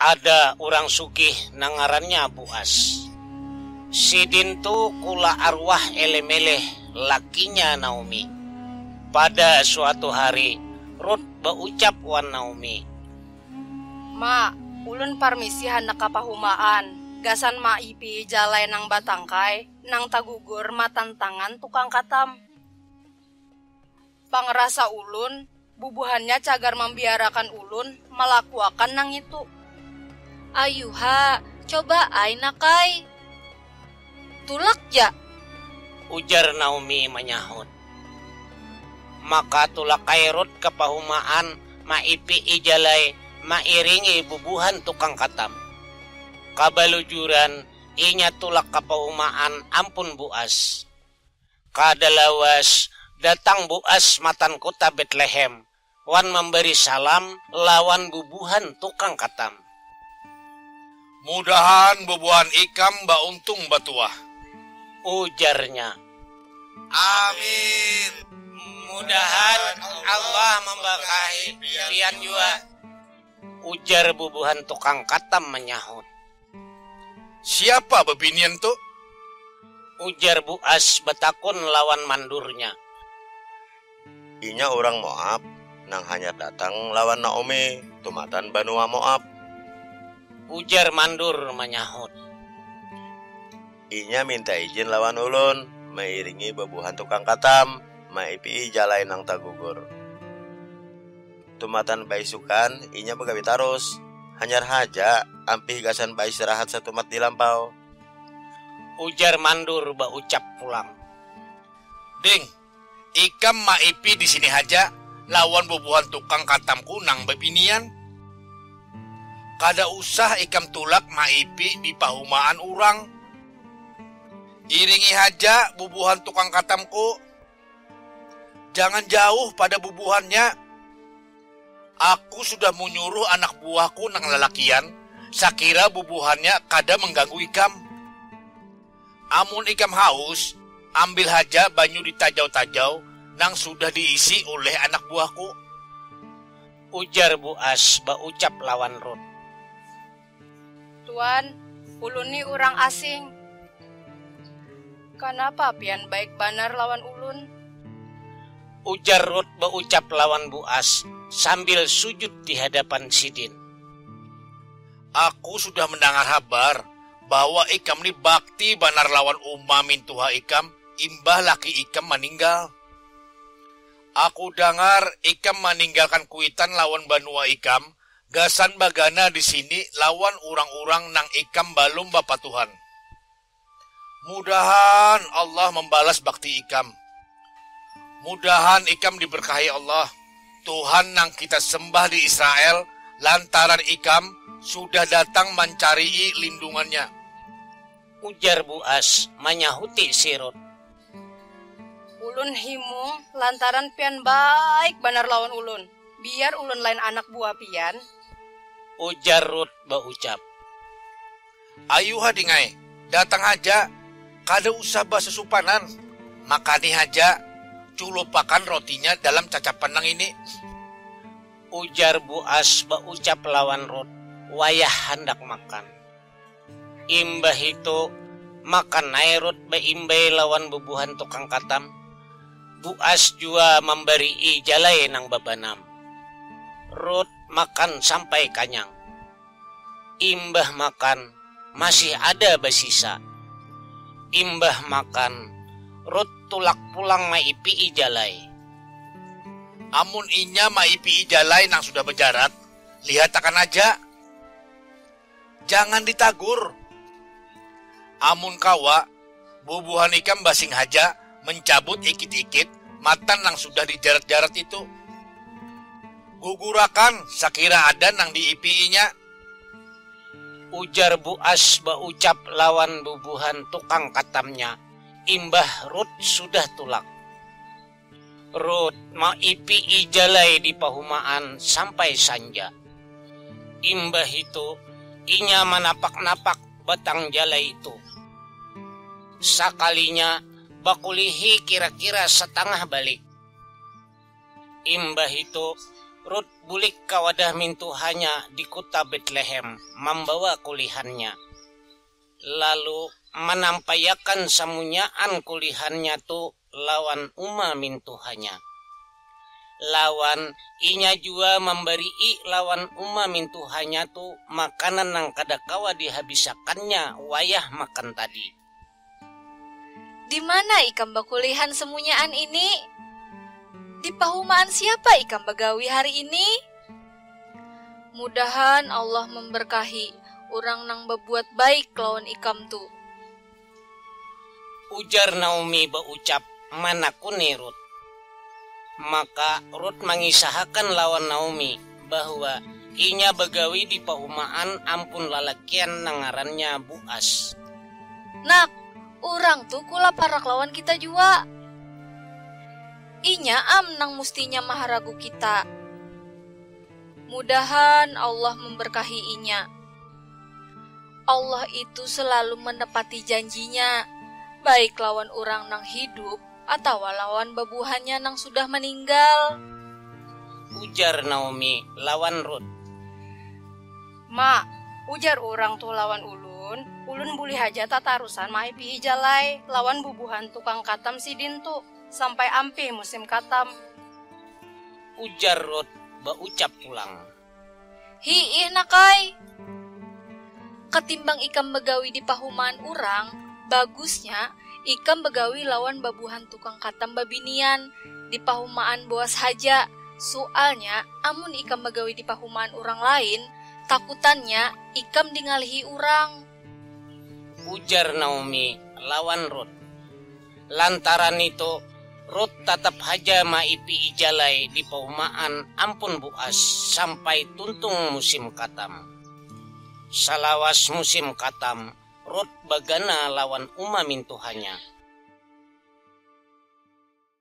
Ada urang sugih nang ngarannya Buas. Sidin tu kula arwah Elemeleh lakinya Naomi. Pada suatu hari, Rut baucap wan Naomi. Ma, ulun parmisi handak ka pahumaan. Gasan maipihi jalai nang batangkai, nang tagugur matan tangan tukang katam. Pangrasa ulun, bubuhannya cagar mambiarakan ulun malakuakan nangitu. Ayuha, coba ai nak ai. Tulak ja! Ujar Naomi manyahut. Maka tulak ai Rut ka pahumaan maipi'i jalai mairingi bubuhan tukang katam. Kabalujuran inya tulak ka pahumaan ampun Boas. Kada lawas, datang Boas matan kuta Betlehem wan mambari salam lawan bubuhan tukang katam. Mudahan bubuhan ikam bauntung batuah. Ujarnya. Amin. Mudahan Allah mambarkahi pian jua. Ujar bubuhan tukang katam manyahut. Siapa bebinian tu? Ujar Buas betakun lawan mandurnya. Inya urang Moab nang hanyar datang lawan Naomi tumatan banua Moab. Ujar mandur manyahut. Inya minta ijin lawan ulun mairingi bebuhan tukang katam maipi'i jalai nang tagugur. Tumatan baisukan, inya bagawi tarus. Hanyar haja, ampih gasan baistirahat satumat di lampau. Ujar Mandur baucap pulang. Ding, ikam maipi di sini haja lawan bubuhan tukang katamku nang babinian. Kada usah ikam tulak maipi di pahumaan urang. Iringi haja bubuhan tukang katamku. Jangan jauh pada bubuhannya. Aku sudah munyuruh anak buahku nang lalakian sakira bubuhannya kada mangganggu ikam. Amun ikam haus, ambil haja banyu di tajau-tajau nang sudah diisi uleh anak buahku. Ujar Buas baucap lawan Rut. Tuan, ulun ni urang asing. Kanapa pian baik banar lawan ulun? Ujar Rut baucap lawan Boas sambil sujud di hadapan sidin. Aku sudah mendangar habar bahwa ikam ni bakti banar lawan uma mintuha ikam imbah laki ikam maninggal. Aku dangar ikam maninggalkan kuitan lawan banua ikam Gasan bagana di sini lawan urang-urang nang ikam balum bapatuhan. Mudahan Allah mambalas bakti ikam. Mudahan ikam diberkahi Allah, Tuhan nang kita sembah di Israel lantaran ikam sudah datang mancarii lindungan-Nya. Ujar Buas manyahuti si Rut. Ulun himung lantaran pian baik banar lawan ulun. Biar ulun lain anak buah pian. Ujar Ruth baucap. Ayuha ding ai, datang haja, kada usah basusupanan, makani haja, culupakan rotinya dalam cacapan nang ini. Ujar Boas baucap lawan Ruth wayah handak makan. Imbah itu, maka Naerut baimbai lawan bubuhan tukang katam, Buas jua mambarii jalai nang babanam. Rut makan sampai kanyang. Imbah makan, masih ada basisa. Imbah makan, Rut tulak pulang maipii jalai. Amun inya maipii jalai nang sudah bajarat, lihatakan aja. jangan ditagur. Amun kawa, bubuhan ikam basing haja mencabut ikit-ikit matan nang sudah dijarat-jarat itu. Gugurakan sakira ada nang diipi'inya. Ujar Bu As baucap lawan bubuhan tukang katamnya imbah Ruth sudah tulak. Rut maipi'i jalai di pahumaan sampai sanja. Imbahitu, inya manapak-napak batang jalai tu. Sakalinya bakulihi kira-kira satangah balik. Imbahitu, Rut bulik ka wadah mintuhanya di kuta Betlehem mambawa kulihannya. Lalu manampaiakan samunyaan kulihannya tu lawan uma mintuhanya. Lawan, inya jua mambari'i lawan uma mintuhanya tu makanan nang kada kawa dihabisakannya wayah makan tadi. Dimana ikam bakulihan semunyaan ini? Di pahumaan siapa ikam bagawi hari ini? Mudahan Allah mambarkahi urang nang babuat baik lawan ikam tu. Ujar Naomi baucap manakuni Rut. Maka, Rut mangisahakan lawan Naomi bahwa inya bagawi di paumaan ampun lalakian nang ngarannya Boas. Nak, urang tu kula parak lawan kita jua. Inya am nang mustinya maharagu kita. Mudahan Allah memberkahi inya. Allah itu selalu menepati janjinya, baik lawan urang nang hidup atawa lawan babuhannya nang sudah maninggal. Ujar Naomi lawan Rut. Ma, ujar urang tu lawan ulun, ulun bulih haja tatarusan maipihi jalai lawan bubuhan tukang katam sidin tu sampai ampih musim katam. Ujar Rut baucap pulang. Hiih nak ai. Ketimbang ikam bagawi di pahumaan urang, bagusnya ikam bagawi lawan babuhan tukang katam babinian di pahumaan boas haja, sualnya amun ikam bagawi di pahumaan urang lain, takutannya ikam dingalihi urang. Ujar Naomi lawan Rut. Lantaran nitu, Rut tatap haja maipi'i jalai di paumaan ampun Boas sampai tuntung musim katam. Salawas musim katam, Rut bagana lawan uma mintuhanya.